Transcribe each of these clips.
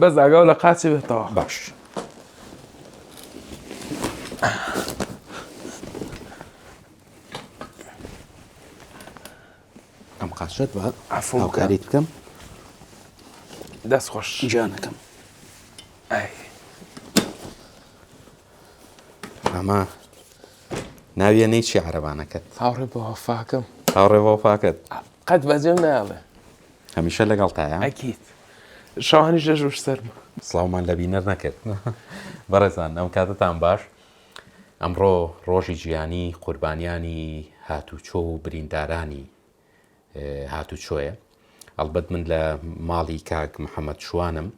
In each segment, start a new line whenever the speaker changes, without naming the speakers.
بەس ئاگاو لە قاچێ بێتەوە باش
ئەم قاچەت بە عەفو بکە. هاوکاریت بکەم
دەست خۆش جانەکەم ئای.
ئەمە ناویە نەیچی عەرەبانەکەت هاوڕێ بە وەفاکەم
هاوڕێ بۆ پاکەت
قەت بەجێم
ناڵێ هەمیشە
لەگەڵتایە؟ ئەکید
شەوانیش لە ژوور سەرمە. سڵاومان لە بینەر
نەکرد بەڕێزان ئەم کاتتان باش ئەمڕۆ ڕۆژی جیانی قوربانیانی هاتوچۆ و بریندارانی هاتوچۆیە ئەڵبەت من لە ماڵی کاک محەممەد شوانم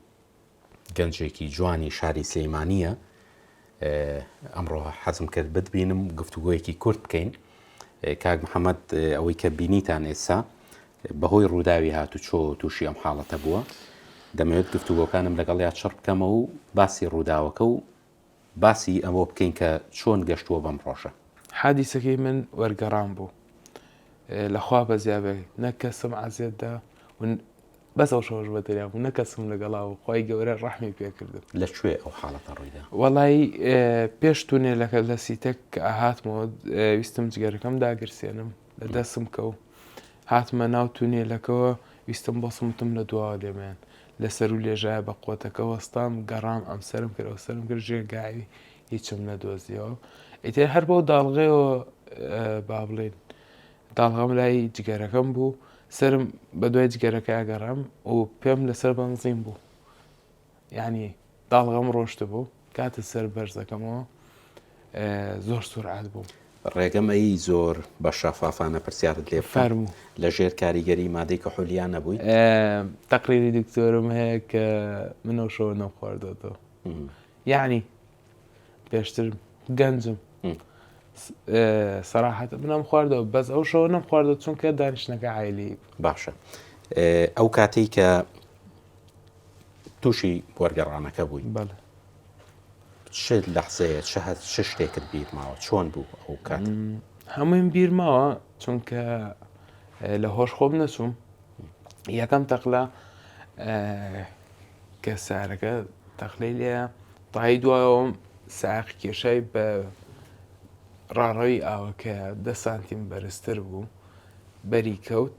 گەنجێکی جوانی شاری سلیمانیە ئەمڕۆ حەزم کرد بتبینم گفتوگۆیەکی کورت بکەین کاک محەممەد ئەوەی کە بینیتان ئێستا بەهۆی ڕووداوی هاتو چۆ تووشی ئەم حاڵەتە بووە دەمەوێت گفتوگۆکانم لەگەڵ یا چڕ بکەمەوە و باسی ڕووداوەکە و باسی ئەوە بکەین کە چۆن گەشتووە بەم ڕۆژە. حادیسەکەی من
وەرگەڕان بوو لە خوا بەزیا بێ نە کەسم عەزێت دا و بەس ئەو شەوەش بە دەریا بوو نە کەسم لەگەڵا و خی گەورە ڕەحمی پێکردن لە کوێ ئەو حاڵەتە
ڕوویدا وەڵی
پێش تونێلەکە لە سیتەک کە ئاهاتمەوە ویستم جگەرەکەم داگرسێنم لە دەسم کەو هاتمە ناو تونێلەکەەوە ویستم بەسمتم لە دواوە لێمێن لە سەروو لێژایە بە قۆتەکە وەستام گەڕام ئەم سەرم کرد ئەو سەرم کرد ژێر گاوی هیچم نەدۆزیەوە ئیتر هەر بەو داڵغەیەوە با بڵێن داڵغەم لای جگەرەکەم بوو سرم بە دوای جگەرەکە گەڕام و پێم لەسەر بەنزین بوو ینی داڵغەم ڕۆشتبوو کاتە سەر بەرزەکەمەوە زۆر سورعات بوو. ڕێگەم ئەیی
زۆر بە شەفافانە پرسیارت لێ بکەم لە ژێر
کاریگەری
مادەی کە حولیا نەبووی تەقریری
دکتۆرم هەیە کە منەوشەوە نەخواردەوە یعنی پێشتر گەنجم سەراحەت منم خواردەوە بەس ئەو شەوە نەم خواردە چونکە دانیشتەکە عیلی باشە
ئەو کاتێک کە تووشی وەرگەڕانەکە بووی بەڵێ چ لەحزەیە چ هەست چ شتێکت بیر ماوە چۆن بوو ئەو کات هەموویم بیر
ماوە چونکە لە هۆش خۆم نەچووم یەکەم تەقلا کە سارەکە تەخلەی لێ تای دوایەوەم ساق کێشای بە ڕاڕەوی ئاوەکە دە سانتیم بەرزتر بوو بەری کەوت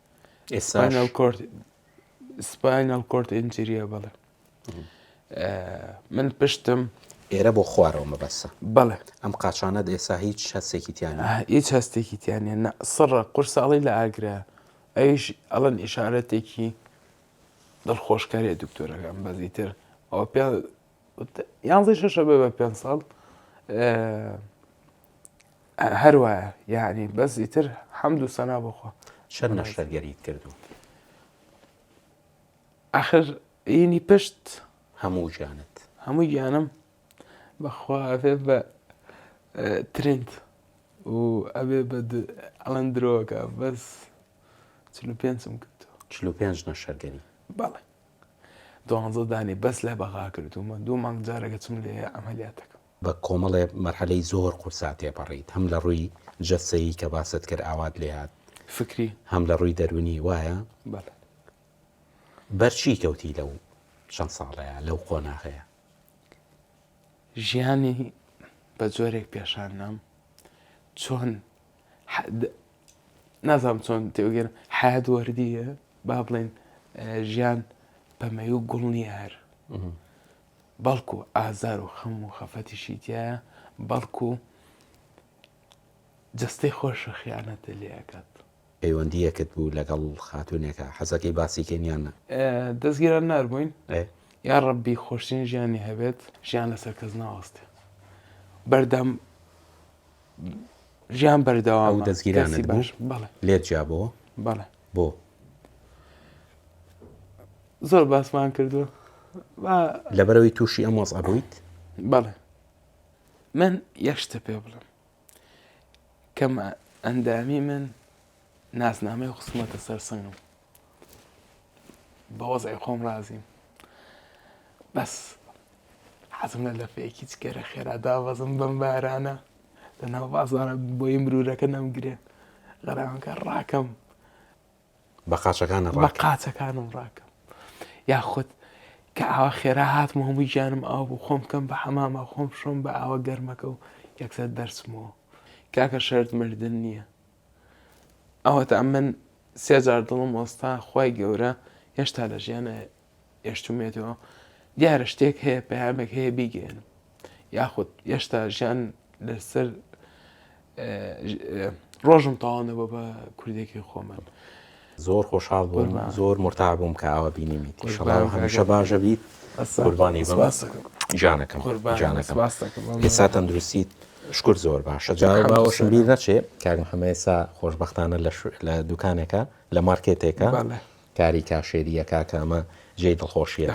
ئێستاش سپاینەڵ کۆرد ئینجریە بەڵێ من پشتم ئێرە بۆ خوارەوە
مەبەسە بەڵێ ئەم
قاچانە
ئێسا هیچ هەستێکی تیانە هیچ هەستێکی
تیانە نە سڕە قورساڵی لە ئاگرە ئەویش ئەڵەن ئشارەتێکی دڵخۆشکارێ دکتۆرەکەم بەزیتر ئەو پێ یانزەی شەشە بێ بە پێنج ساڵ هەر وایە یعنی بەس ئیتر حەمد و سەنا بخۆ چەند نەشتەرگەریت
کردو
ئاخر ئینی پشت هەموو گیانت
هەموو گیانم
بەخوا ئەێ بە ترند و ئەبێ بە ئەڵەن درۆکە بەس چ پێنجم کردو چ پێنج نەشەرگەری
بەڵێ
دوانزە دانەی بەس لە بەغا کردوومە، دوو مانگ جارێک ئەچم لێیە عەمەلیات دەکەم. بە کۆمەڵێ
مەرحەلەی زۆر قورسا تێپەڕیت، هەم لە ڕووی جەستەیی کە باست کرد ئاوات لێ هات، فکری. هەم لە
ڕووی دەروونی،
وایە؟ بەڵێ. بەر چی کەوتی لەو چەند ساڵەیا لەو قۆناغەیا؟
ژیانی بە جۆرێک پێشان نام چۆن نازانم چۆن تێوگەێن حەیات وەردیە با بڵێن ژیان پەمەی و گوڵ نیە هەر بەڵکو ئازار و خەم و خەفەتیشی تایە بەڵکو جستەی خۆشە خیانەتە لێکات
پەیوەندیەکت بوو لەگەڵ خاتونێکە حەزەکەی باسیکەنیانە دەستگیران
نربووین یا
ڕبی
خۆشترین ژیانی هەبێت ژیان لەسەر کەس ناوەستێ بەردەم ژیان بەردەوام ئەو دەستگیرانت بوو
لێت جیابەوە بەڵێ بۆ
زۆر باسمان کردو
لەبەرەوەی تووشی ئەم وەز ئەبوویت بەڵێ
من یەشتە پێ بڵم کەم ئەندامی من نازنامەی خسمەتە سەرسنگم بە وەزعی خۆم رازیم بەس حەزم لە لەفەیەکی جگەرە خێرا دابەزم بەم بارانە لە ناو بازارە بۆی مرورەکە نەمگرێ غەراکە ڕاکەم
بە قاچەکانە بە قاچەکانم
ڕاکەم یاخود کە ئاوا خێرا هاتم هەمووی گیانم ئاو بوو خۆم کەم بە حەمامە خۆم شۆم بە ئاوە گەرمەکە و یەکسەر دەرچمەوە کاکە شەرت مردن نییە ئەوەتا من سێ جار دڵم وەستا خوای گەورە هێشتا لە ژیانە هێشتومێتەوە دیارە شتێک هەیە پەیامێک هەیە بیگەێنم یاخود هێشتا ژیان لەسەر ڕۆژم تاوانەوە بە کوردێکی خۆمان. زۆر
خۆشحاڵ بووم زۆر مرتاح بووم کە ئاوا بینیمیت ئیشەڵا هەمیشە باش بیت قوربانی بم گیانەکەم گیانەکەم ئێستا تەندروستیت شکر زۆر باشە جا باوەشم بیر نەچێ کاک محەممە ئێستا خۆشببختانە لە دوکانێکە لە مارکێتێکە کاری کاشێریە کاکە ئەمە جێی دڵخۆشیە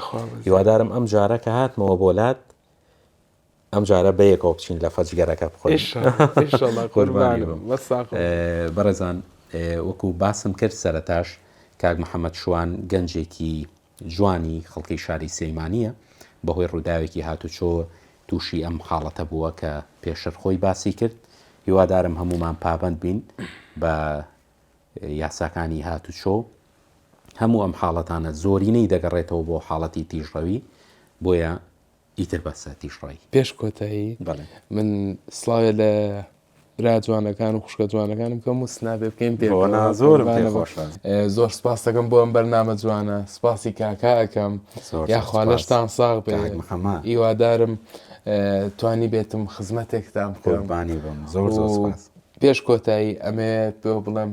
هیوادارم ئەم جارەکە هاتمەوە بۆ لات ئەم جارە بەیەکەوە بچین لە فەج گەرەکە بخۆین بەڕێزان وەکو باسم کرد سەرتاش کاک محەممەد شوان گەنجێکی جوانی خەڵکی شاری سەیمانە بەهۆی ڕووداوێکی هاتوچۆ تووشی ئەم حاڵەتە بووە کە پێشر خۆی باسی کرد هیوادارم هەمومان پابند بین بە یاساکانی هاتوچۆ هەموو ئەم حاڵەتانە زۆرینەی دەگەڕێتەوە بۆ حاڵەتی تیژڕەوی بۆیە ئیتر با ساتیش ڕای. پێش کۆتایی
بەڵێ من سڵاوێ لە برا جوانەکان و خوشکە جوانەکانم کەم و سنابێ بکەین پێ بۆ نا زۆرم پێ خۆشە. زۆر سپاس دەکەم بۆ ئەم بەرنامە جوانە سپاسی کاکا ئەکەم زۆر یا خوا سپاس. لەشتان ساغ بێ کاک محەممە. هیوادارم توانی بێتم خزمەتێکتان بکەم قوربانی بم
زۆر زۆر سپاس. پێش
کۆتایی ئەمەوێت پێو بڵێم